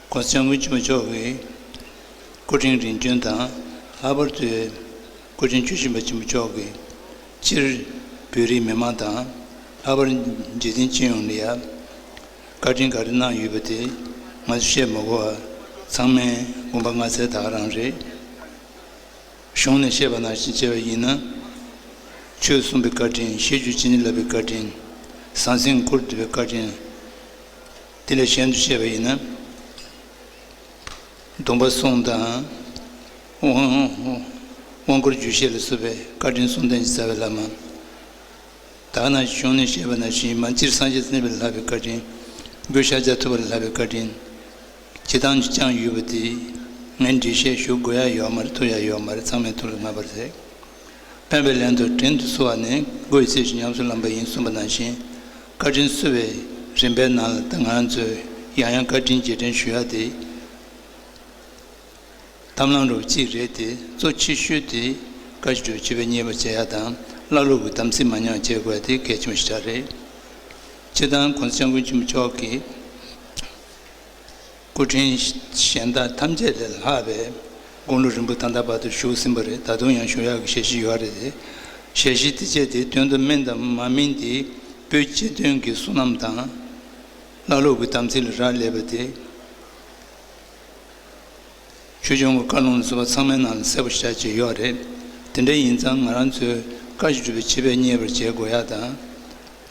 སྒོ་རྩེ་མོ་ཆེ་མོ་མཆོག་གིས་སྐུ་ཕྲེང་རིམ་བྱོན་དང་ལྷག་པར་དུ་སྐུ་ཕྲེང་བཅུ་བཞི་པ་ཆེན་པོ་མཆོག་གིས་སྤྱིར་བོད་རིགས་མི་མང་དང་ལྷག་པར་འཇིག་རྟེན་སྤྱི་ཡོངས་ལ་ཡང་བཀའ་དྲིན་ག་རེ་གནང་ཡོད་པ་དེ་ང་ཚོས་བཤད་མ་གོ་བ་ཚང་མས་དགོངས་པ་ང་ཚའི་དག་རང་རེད། གཞུང་ནས་བཤད་པ་ནང་བཞིན་བྱས་པ་ཡིན་ན་ཆོལ་གསུམ་པའི་བཀའ་དྲིན་བཤད་རྒྱུ་ཅི་ནས་ལབ་པའི་བཀའ་དྲིན་ཟང་ཟིང་འཁུར་འདོད་པའི་བཀའ་དྲིན། དེ་ལས་གཞན་དུ་བཤད་པ་ཡིན་ན། སྡོམ་པ་གསུམ་དང། དབང་བསྐུར་རྒྱུད་བཤད་ལ་བསུ་བའི་བཀའ་དྲིན་གསུམ་ལྡན་གྱིས་བསྩལ་བའི་ལྷ་མ། དག་ན་བྱུང་ནས་བཤད་པ་ན་བཞིན་མ་སྤྱིར་སངས་རྒྱས་སུ་གནས་པའི་ལྷ་བའི་བཀའ་དྲིན། དགོས་ཤར་ལྗགས་ཐུབ་པ་ལ་ལྷ་བའི་བཀའ་དྲིན། བྱེད་སྟངས་ཀྱི་ཅང་ཡོད་པ་དེ། ངས་འགྲེལ་བཤད་ཞུ་དགོས་ཡ་ཡོག་མ་རེད་ཐུབ་ཡ་ཡོག་མ་རེད་ཚང་མས་ཐུབ་ལ་མ་པར་ཟེར། སྨྲས་པའི་ལན་དུ་དྲིན་དུ་གསོལ་བ་ནི་སྒོ་ཡི་ཚིག་བཞིན་ཉམས་སུ་བླངས་པ་ཡིན་གསུངས་པ་ནང་བཞིན་བཀའ་དྲིན་གསོལ་བའི་རིམ་པའི་ནང་ལ་ང་ཚོས་ཡང་ཡང་བཀའ་དྲིན་རྗེས་དྲན་ཞུ་ཡག་དེ་དམ་བླང་རུ་གཅིག་རེད་དེ་གཙོ་ཆེ་ཤོས་དེ་བཀའ་བཞི་སྒྲོལ་སྤྱི་བའི་གཉེར་པ་བྱེད་ཡག་དང་བླ་སློབ་ཀྱི་དམ་ཚིག་མ་ཉམས་བྱེད་དགོས་དེ་གལ་ཆེན་པོ་ཞེ་དྲག་རེད། སྤྱིར་བཏང་གོང་ས་སྐྱབས་མགོན་ཆེན་པོ་མཆོག་གིས། སྐུ་ཕྲེང་གཞན་དག་ཐམས་ཅད་ལས་ལྷག་པའི་དགུང་ལོ་རིང་པོ་ཐང་ཐང་བར་དུ་བཞུགས་ཟིན་པ་རེད་ད་དུང་ཡང་བཞུགས་ཡག་གི་ཞལ་བཞེས་ཡོད་རེད་དེ་ཞལ་བཞེས་དེ་སྤྱད་དེ་དོན་དུ་སྨིན་དང་མ་སྨིན་དེ་པོའི་སྤྱི་དོན་གྱི་བསོད་ནམས་དང། བླ་སློབ་ཀྱི་དམ་ཚིག་ལ་རག་ལས་པ་དེ། ཆོས་འབྱུང་གི་བཀའ་ལུང་བཟོ་བ་ཚང་མའི་ནང་ལ་གསལ་པོ་བཞག་བཅས་ཡོད་རེད་དེ་འདྲ་ཡིན་ཙང་ང་རང་ཚོའི་བཀའ་བཞིན་སྒྲུབ་པའི་བྱེད་པས་མཉེས་པར་བྱེད་དགོས་ཡག་དང།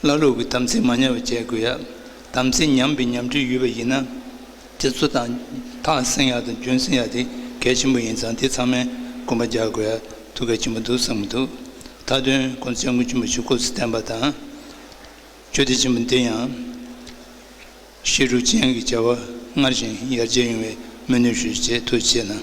བླ་ལུག་གི་དམ་ཚིག་མ་ཉམས་པ་བྱེད་དགོས་ཡ། དམ་ཚིག་ཉམས་པའི་ཉམས་ཁྲིད་ཡོད་པ་ཡིན་ན། རྗེ་བཙུན་དང། ཐང་བསྲིང་ཡག་དང་རྒྱུན་བསྲིང་ཡག་དེ་གལ་ཆེན་པོ་ཡིན་ཙང་དེ་ཚང་མས་དགོངས་པ་རྒྱག་དགོས་ཡ་ཐུགས་གལ་ཆེན་པོ་འདུག་བསམ་གྱི་འདུག་མཐའ་དོན་དགོངས་ཚུལ་དངོས་ཆེན་པོ་ཞིག་སྐུ་ཚེ་བརྟན་པ་དང། ཆོས་སྡེ་ཆེན་པོ་འདི་ཡང། ཤེས་དྲུག་ཅན་གྱི་བྱ་བ་སྔར་བཞིན་ཡར་རྒྱས་ཡོང་བའི་སྨོན་ནུས་ཞུ་ཞེས་ཐུགས་ཆེ་གནང།